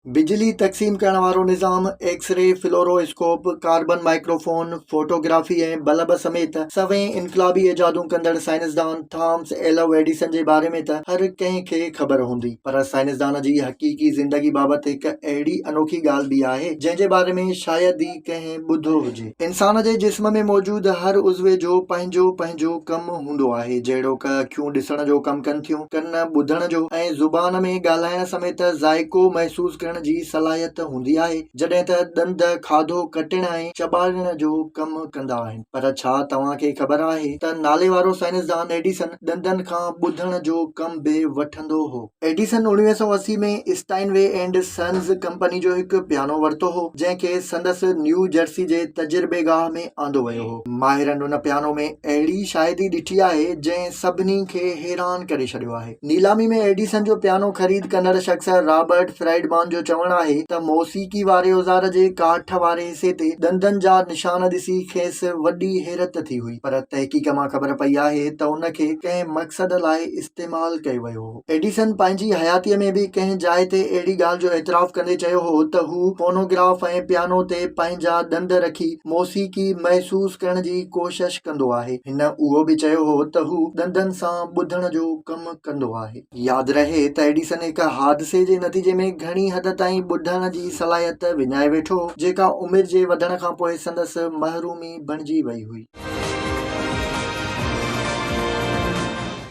بجلي تقسيم ڪرڻ وارو نظام، X ray, fluoroscope, carbon microphone, photography ۽ bulb سميت سوين انقلابي ايجادون ڪندڙ سائنسدان ٿامس ايلو ايڊيسن جي باري ۾ ته هر ڪنهن کي خبر هوندي پر سائنسدان جي حقيقي زندگي بابت هڪ اهڙي انوکي ڳالهه به آهي جنهن جي باري ۾ شايد ئي ڪنهن ٻڌو هجي. انسان جي جسم ۾ موجود هر عضوي جو پنهنجو پنهنجو ڪم هوندو آهي، جهڙوڪ اکيون ڏسڻ جو ڪم ڪن ٿيون، ڪن ٻڌڻ جو ۽ زبان ۾ ڳالهائڻ سميت ذائقو محسوس ڪرڻ جي صلاحيت هوندي آهي، جڏهن ته ڏند کاڌو ڪٽڻ ۽ چٻاڙڻ جو ڪم ڪندا آهن. پر ڇا توهان کي خبر آهي ته ناليوارو سائنسدان ايڊيسن ڏندن کان ٻڌڻ جو ڪم به وٺندو هو؟ ايڊيسن اوڻويهه سؤ اسي ۾ Steinway and sons company جو هڪ پيانو ورتو هو، جنهن کي سندس نيو جرسي جي تجربيگاهه ۾ آندو ويو هو. ماهرن ان پيانو ۾ اهڙي شاهدي ڏٺي آهي، جنهن سڀني کي حيران ڪري ڇڏيو آهي. نيلامي ۾ ايڊيسن جو پيانو خريد ڪندڙ شخص رابرٽ فرائيڊمان جو چوڻ آهي ته موسيقي واري اوزار جي ڪاٺ واري حصي تي ڏندن جا نشان ڏسي کيس وڏي حيرت ٿي هئي، پر تحقيق مان خبر پئي آهي ته ان کي ڪنهن مقصد لاء استعمال ڪيو ويو. هو. ايڊيسن پنهنجي حياتيء ۾ به ڪنهن جاء تي اهڙي ڳالهه جو اعتراف ڪندي چيو هو ته هو فونوگراف ۽ پيانو تي پنهنجا ڏند رکي موسيقي محسوس ڪرڻ جي ڪوشش ڪندو آهي. هن اهو به چيو هو ته هو ڏندن سان ٻڌڻ جو ڪم ڪندو آهي. ياد رهي ته ايڊيسن هڪ حادثي جي نتيجي ۾ گهڻي حد تائين ٻڌڻ جي صلاحيت وڃائي ويٺو هو، جيڪا عمر جي وڌڻ کان پوء سندس محرومي بڻجي وئي هئي.